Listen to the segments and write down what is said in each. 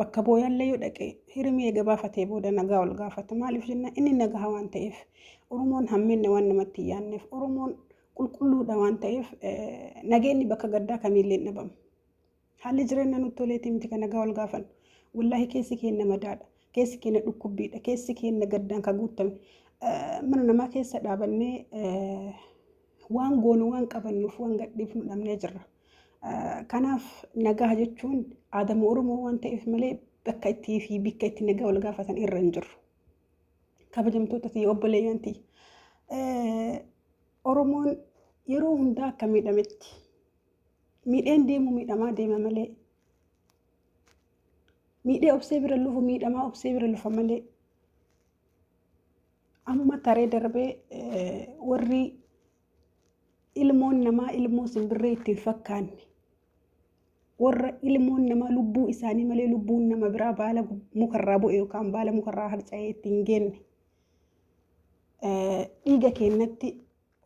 Bakka booyaallee yoo dhaqe hirimii eega baafatee booda nagaa ol gaafata. Maaliif jenna inni nagaha waan ta'eef Oromoon hammeenna waan namatti hin yaanneef Oromoon qulqulluudha waan ta'eef nageenyi bakka gaddaa kamiillee hin dhabamu. Haalli jireenya nutti toleetii miti kan nagaa ol gaafannu. Wallaahi keessi keenya madaadha. Keessi keenya dhukkubbiidha. Keessi keenya gaddaan kan guutame. Mana namaa keessa dhaabannee Waan goonu waan qabannuuf waan gadhiifnu dhabnee jirra. Kanaaf nagaa jechuun aadama Oromoo waan ta'eef malee bakka itti fi bikka itti nagaa wal gaafatan irra hin jirru. Kabajamtoota tiyya obboleeyyan tiyya. Oromoon yeroo hundaa akka miidhametti miidheen deemu miidhamaa deema malee miidhee obsee bira lufu miidhamaa obsee bira lufa malee Amma taree darbee warri ilmoon namaa ilmoo simbirree ittiin fakkaanne warra ilmoon namaa lubbuu isaanii malee lubbuun nama biraa baala mukarraa bu'e yookaan baala mukarraa harca'ee ittiin geenne dhiiga keenyatti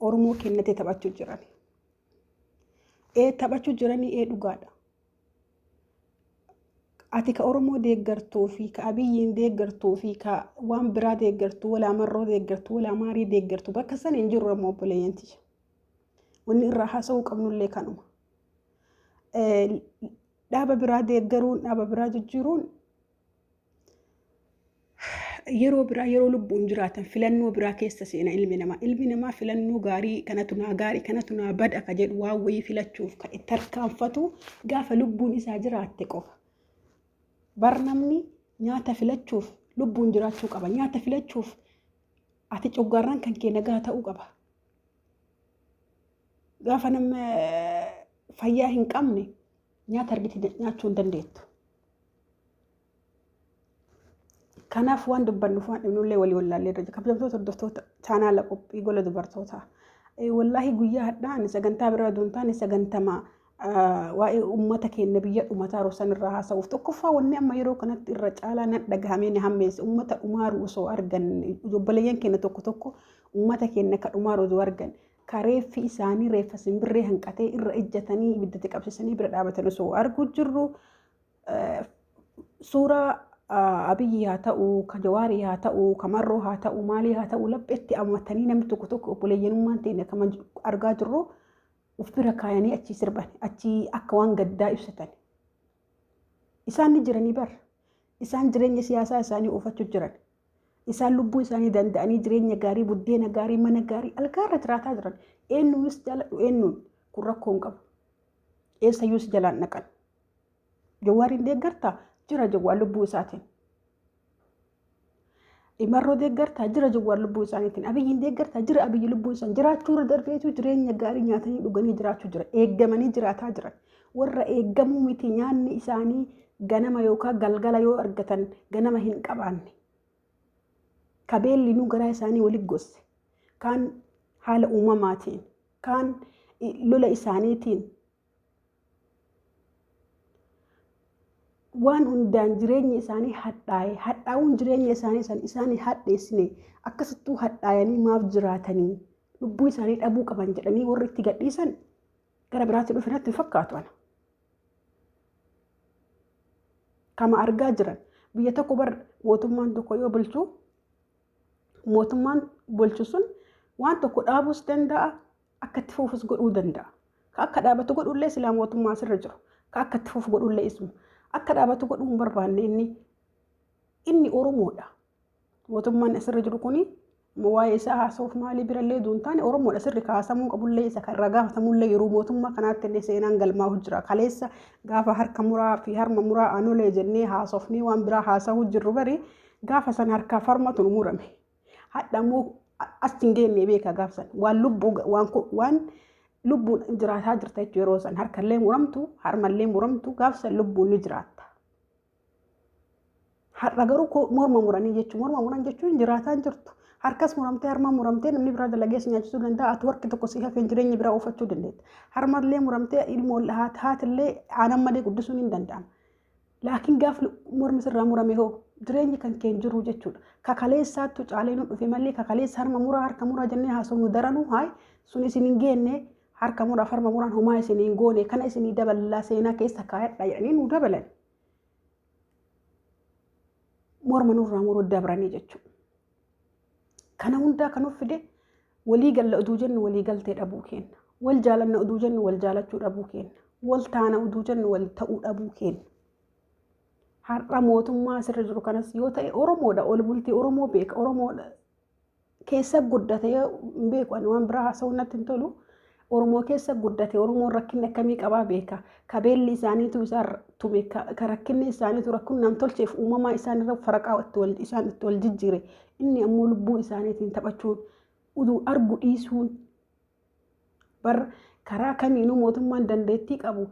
Oromoo keenyatti taphachuu jiran. Ee taphachuu jiranii ee dhugaadha. ati ka Oromoo deeggartuu fi ka Abiyyiin deeggartuu fi ka waan biraa deeggartu walaa marroo deeggartu walaa maarii deeggartu bakka san hin jirru amma obboleeyyan tiyya. Wanni irraa haasa'uu qabnullee kanuma. Dhaaba biraa deeggaruun dhaaba biraa jijjiiruun yeroo biraa yeroo lubbuun jiraatan filannoo biraa keessa seena ilmi namaa. Ilmi namaa filannoo gaarii kanatu naa gaarii kanatu naa bada ka jedhu waan wayii filachuuf kan itti harkaanfatu gaafa lubbuun isaa jiraatte qofa. Bar namni nyaata filachuuf lubbuun jiraachuu qaba. Nyaata filachuuf ati coggaarraan kan kee nagaa ta'uu qaba. Gaafa nama fayyaa hin qabne nyaata argite nyaachuu hin dandeettu. Kanaaf waan dubbannuuf waan dhibnullee walii wallaallee irra jira. Kabajamtoota hordoftoota chaanaala qophii gola dubartootaa. Wallaahi guyyaa hadhaan sagantaa biraa duun taane sagantamaa waa'ee uummata keenya biyya dhumataa rosan irraa haasa'uuf tokkoffaa wanni amma yeroo kanatti irra caalaa nan dhagahamee na hammeesse uummata dhumaaru osoo argan obboleeyyan keenya tokko tokko uummata keenya akka dhumaaru osoo argan ka reeffi isaanii reeffa simbirree hanqatee irra ejjatanii ibiddatti qabsiisanii bira dhaabatan osoo arguu jirru suuraa Abiyyi haa ta'u, ka Jawaarii haa ta'u, ka Marroo haa ta'u, maalii haa ta'u lapheetti ammatanii namni tokko tokko obboleeyyanummaan ta'in akkama argaa jirru of bira kaayanii achii sirban achii akka waan gaddaa ibsatan. Isaan ni jiranii bar. Isaan jireenya siyaasaa isaanii oofachuu jiran. Isaan lubbuu isaanii danda'anii jireenya gaarii, buddeena gaarii, mana gaarii algaa irra jiraataa jiran. Eenyuunis jaaladhu eenyuun kun rakkoo hin qabu. Eessayyuu si jalaan dhaqan. Jawwaariin deeggartaa jira jawwaan lubbuu isaatiin. Imarroo deeggartaa jira jawwaan lubbuu isaaniitiin. Abiyyiin deeggartaa jira abiyyi lubbuu isaan jiraachuu irra darbeetu jireenya gaarii nyaatanii dhuganii jiraachuu jira. Eeggamanii jiraataa jiran. Warra eeggamuu miti nyaanni isaanii ganama yookaan galgala yoo argatan ganama hin qabaanne. Ka beellinuu garaa isaanii walitti gosse. Kaan haala uumamaatiin, kaan lola isaaniitiin waan hundaan jireenya isaanii hadhaaye hadhaa'uun jireenya isaanii san isaan hin hadheessine akkasittuu hadhaayanii maaf jiraatanii lubbuu isaanii dhabuu qaban jedhanii warri itti gadhiisan Gara biraatti dhufe natti hin fakkaatu ana. Kama argaa jiran biyya tokko bar mootummaan tokko yoo bulchu mootummaan bulchu sun waan tokko dhaabuus danda'a akka itti fuufus godhuu danda'a. Ka akka dhaabatu godhullee silaa mootummaa asirra jiru. Ka akka itti fuufu godhullee isuma. Akka dhaabatu godhuu hin barbaanne inni inni Oromoodha. Mootummaan asirra jiru kun waa'ee isaa haasa'uuf maalii birallee duun taane Oromoodha sirri kaasamuu qabullee isa kan ragaa hatamuullee yeroo mootummaa kanaatti illee seenaan galmaa'u jira. Kaleessa gaafa harka muraa fi harma muraa aanolee jennee haasofnee waan biraa haasa'uu jirru bari gaafa san harkaa fi harmatu nu murame. Hadha immoo as hin geenne beeka gaafa san waan lubbuu waan waan lubbuun jiraataa jirta jechuudha yeroo san harkallee muramtu harmallee muramtu gaafa san lubbuun ni jiraatta. Har'a garuu ko- morma muranii jechuun morma muran jechuun jiraataan jirtu harkas muramtee harma muramtee namni biraa dalagee si nyaachisuu danda'a ati warqi tokko si hafeen jireenya biraa oofachuu dandeetta. Harmallee muramtee ilmoo ol haat haatillee aanan malee guddisuun hin danda'amu. Laakiin gaaf mormi sirraa murame hoo jireenyi kan kee hin jiru jechuudha. Kakaleessaattu caalee nu dhufe malee kakaleessa harma muraa harka muraa jennee haasofnu daranuu haay sun isin hin geenne harka mura farma muraan homaa isin hin goone kana isinii daballaa seenaa keessa kaayadha jedhanii nu dabalan. Morma nurraa muruu dabranii jechuudha. Kana hundaa kan nuuf fide walii galla oduu jennu walii galtee dhabuu kenna. Wal jaalanna oduu jennu wal jaalachuu dhabuu kenna. Wal taana oduu jennu wal ta'uu dhabuu kenna. Har'a mootummaa asirra jiru kanas yoo ta'e Oromoodha ol bultii Oromoo beeka Oromoodha keessa guddate hin beeku ani waan biraa haasa'uu natti hin tolu. Oromoo keessa guddate Oromoon rakkinni akkamii qabaa beeka. Ka beelli isaaniitu isaan tume ka ka rakkinni isaaniitu rakkoon nam tolcheef uumamaa isaanirra faraqaa itti wal isaan itti wal jijjiire. Inni ammoo lubbuu isaaniitiin taphachuun uduu argu dhiisuun bar karaa kamiinuu mootummaan dandeettii qabu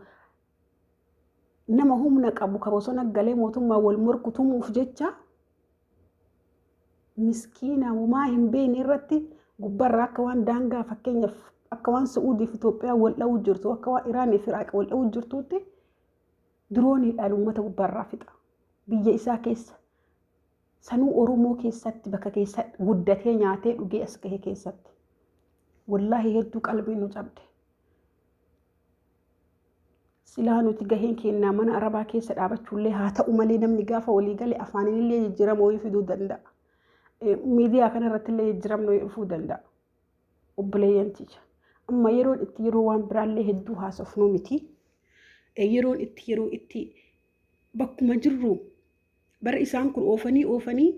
nama humna qabu ka bosona galee mootummaa wal morku tumuuf jecha miskiina homaa hin beekne irratti gubbarraa akka waan daangaa fakkeenyaaf akka waan Su'uudii fi Itoophiyaa wal dha'uu jirtu akka waan Iraanii fi Iraaq wal dha'uu jirtuutti dirooniidhaan uummata gubbarraa fixa. Biyya isaa keessa sanuu Oromoo keessatti bakka keessa guddatee nyaatee dhugee as gahe keessatti. Wallaahi hedduu qalbii nu cabde. Silaa nuti gaheen keennaa mana arabaa keessa dhaabachuullee haa ta'u malee namni gaafa walii gale afaaniinillee jijjiirama wayii fiduu danda'a. Miidiyaa kanarrattillee jijjiiramni wayii dhufuu danda'a. Obboleeyyan tiyya. Amma yeroon itti yeroo waan biraallee hedduu haasofnuu miti. Yeroon itti yeroo itti bakkuma jirru bara isaan kun oofanii oofanii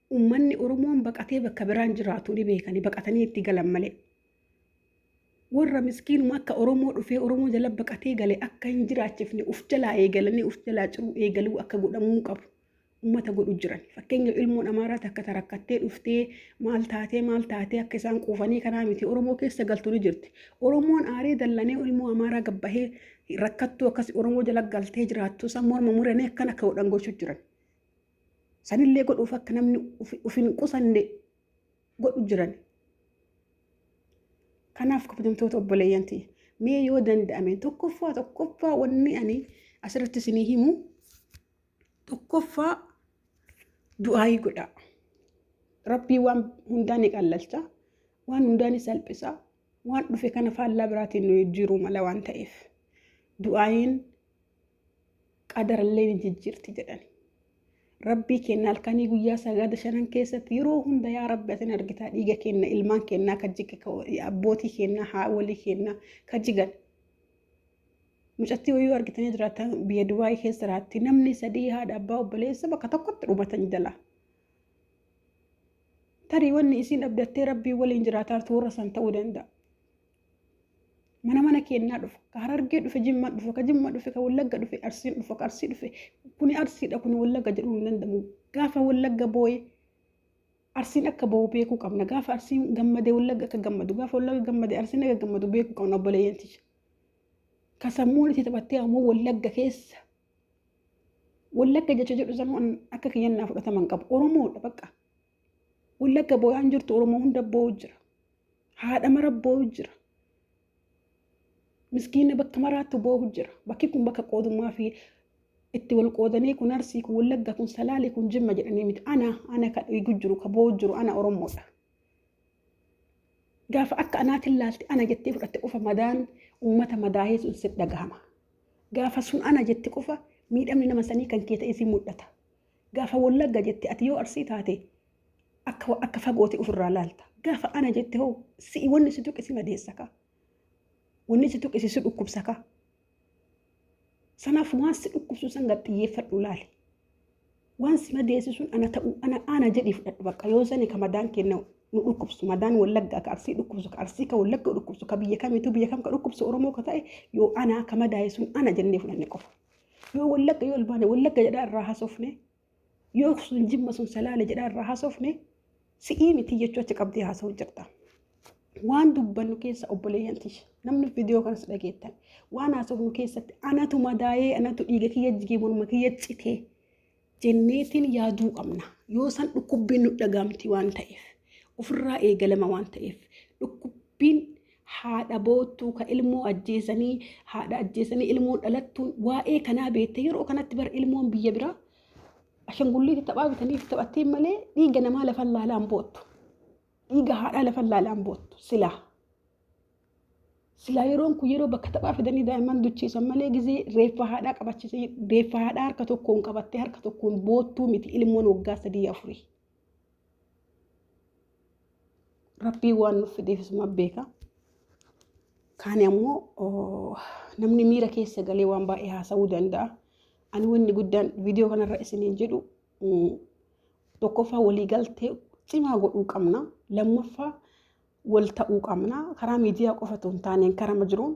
Ummanni Oromoon baqatee bakka biraan jiraatu ni beeka ni baqatanii itti galan malee. Warra miskiinuma akka Oromoo dhufee Oromoo jala baqatee gale akka hin jiraachifne uf jalaa eegalanii uf jalaa ciruu eegaluu akka godhamuu qabu. Ummata godhu jiran. Fakkeenya ilmoon Amaaraa takka tarakkattee dhuftee maal taatee maal taatee akka isaan quufanii kanaa miti Oromoo keessa galtu ni jirti. Oromoon aaree dallanee ilmoo Amaaraa gabbahee rakkattuu akkas Oromoo jala galtee jiraattu isaan morma muranee akkan akka godhan gochuu jiran. Sanillee godhuuf akka namni uf hin qusanne godhu jiran. Kanaaf kabajamtoota obboleeyyan ta'e mee yoo danda'ame tokkoffaa tokkoffaa wanni ani asirratti isinii himu tokkoffaa du'aayii godhaa. Rabbii waan hundaa ni qallalcha, waan hundaa ni salphisa, waan dhufe kana faallaa biraatiin nu jijjiiruu mala waan ta'eef du'aayiin qadarallee ni jijjiirti jedhani. Rabbii keenna halkanii guyyaa sagada shanan keessatti yeroo hunda yaa rabbi asin argitaa dhiiga keenna ilmaan keennaa ka jige abbootii keennaa haawolii keennaa ka jigan. Mucattii wayyuu argitanii jiraatan biyya Dubaayii keessa jiraatti namni sadii haadha abbaa obboleessa bakka tokkotti dhumatan jala. Tarii wanni isiin abdattee rabbii waliin jiraataa turra san ta'uu danda'a. mana mana kennaa dhufa ka harargee dhufe jimma dhufe ka jimma dhufe ka wallagga dhufe arsiin dhufa ka arsii dhufe kuni arsiidha kuni wallagga jedhuu hin danda'amu gaafa wallagga booye arsiin akka boo'u beekuu qabna gaafa arsiin gammade wallagga akka gammadu gaafa wallagga gammade arsiin akka gammadu beekuu qabna obboleeyyan tiyya ka sammuun itti taphattee ammoo wallagga keessa wallagga jecha jedhu sammuu akka kiyyan naa fudhataman qabu oromoodha bakka Wallagga booyaan jirtu Oromoo hunda boo'u jira. Haadha mara boo'u jira. Miskiina bakka maraattu boo'u jira. Bakki kun bakka qoodummaa fi itti wal qoodanii kun arsii kun wallagga kun salaalee kun jimma jedhanii miti. Ana ana ka dhiigu jiru ka boo'u jiru ana Oromoodha. Gaafa akka anaatiin laalte ana jettee fudhatte qofa madaan uummata madaa'ee sun sitti dhagahama. Gaafa sun ana jette qofa miidhamni nama sanii kan kee ta'ee si mul'ata. Gaafa Wallagga jette ati yoo Arsii taate akka akka fagooti ofirraa laalta. Gaafa ana jette hoo si'i wanni si tuqi si madeessa kaa. Wanni si tuqi si dhukkubsa kaa. Sanaaf waan si dhukkubsu san gad xiyyeeffadhu laali. Waan si madeessi sun ana ta'u ana ana jedhi fudhadhu bakka yoo sani ka madaan kenna nu dhukkubsu madaan wallaggaa ka arsii dhukkubsu ka arsii ka wallagga dhukkubsu ka biyya kamitu biyya kam ka dhukkubsu oromoo ka ta'e yoo ana ka madaa'e sun ana jennee fudhanne qofa. Yoo wallagga yoo olbaane wallagga jedhaa irraa haasofne yoo sun jimma sun salaale jedhaa irraa haasofne si'ii miti jechuu achi qabdee haasa'u jirta. Waan dubbannu keessa obboleeyyan tish namni viidiyoo kanas dhageettan waan haasofnu keessatti anatu madaa'ee anatu dhiiga kiyya jigee morma kiyya citee jenneetiin yaaduu qabna. Yoo san dhukkubbiin nu dhagaamti waan ta'eef, ofirraa eegalama waan ta'eef, dhukkubbiin haadha boottuu ka ilmoo ajjeesanii haadha ajjeesanii ilmoon dhalattuun waa'ee kanaa beekte yeroo kanatti bar ilmoon biyya biraa ashangulliitti taphaa bitanii fi taphattiin malee dhiiga namaa lafan laalaan boottu. Dhiiga haadhaa lafan laalaan boottu silaa. Silaa yeroon kun yeroo bakka taphaa fidanii daa'imman duchiisan malee gizee reeffa haadhaa qabachiisan reeffa haadhaa harka tokkoon qabattee harka tokkoon boottuu miti ilmoon waggaa sadii afurii. Rabbii waan nuuf fideefisuma beeka. Kaani ammoo namni miira keessa galee waan baay'ee haasa'uu danda'a. Ani wanni guddaan viidiyoo kanarra isiniin jedhu tokkoffaa waliigaltee cimaa godhuu qabna. Lammaffaa wal ta'uu qabna. Karaa miidiyaa qofa otoo hin taaneen karama jiruun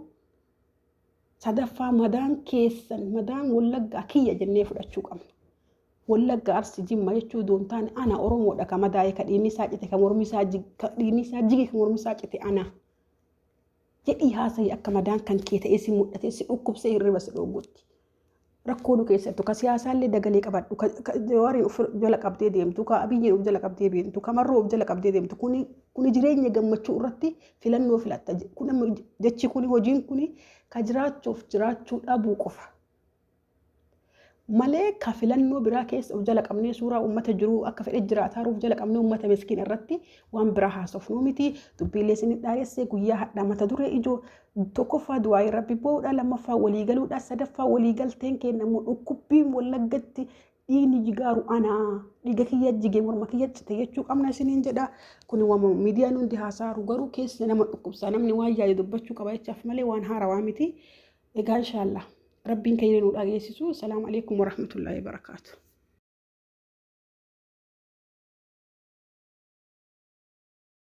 sadaffaa madaan keessan madaan wallaggaa kiyya jennee fudhachuu qabna. Wallagga arsi jimma jechuu otoo hin taane ana Oromoodha ka madaa'e ka dhiinni isaa cite ka mormi isaa jig- ka dhiinni isaa jige ka mormi isaa cite ana. Jedhii haasa'ii akka madaan kan kee ta'ee si mul'atee si dhukkubsee hirriba si dhoowwutti. rakkoo nu keessattu ka siyaasaallee dagalee qabadhu ka ka jawaarii of jala qabdee deemtu ka abiyyiin of jala qabdee deemtu ka marroo of jala qabdee deemtu kuni kuni jireenya gammachuu irratti filannoo filatta Je- kun amma je- jechi kuni hojiin kuni ka jiraachuuf jiraachuu dhabuu qofa malee ka filannoo biraa keessa of jala qabnee suuraa uummata jiruu akka fedhe jiraataa jiru of jala qabnee uummata miskiin irratti waan biraa haasofnuu miti dubbiilee isin dhaadhessee guyyaa hadhaa mata duree ijoo Tokkoffaa du'aa'ii rabbi boo'uudha, lammaffaa walii galuudha, sadaffaa walii galteen keenya immoo dhukkubbiin wallaggatti dhiigni jigaaru anaa dhiiga kiyya jige morma kiyya cite jechuu qabna isiniin jedha. Kun wama miidiyaan hundi haasaaru garuu keessa nama dhukkubsa namni waan yaade dubbachuu qaba jechaaf malee waan haarawaa miti. Egaa inshaallah rabbiin keenya nu dhageessisu. Salaamu alaikum warahmatullaahi wabarakaatu.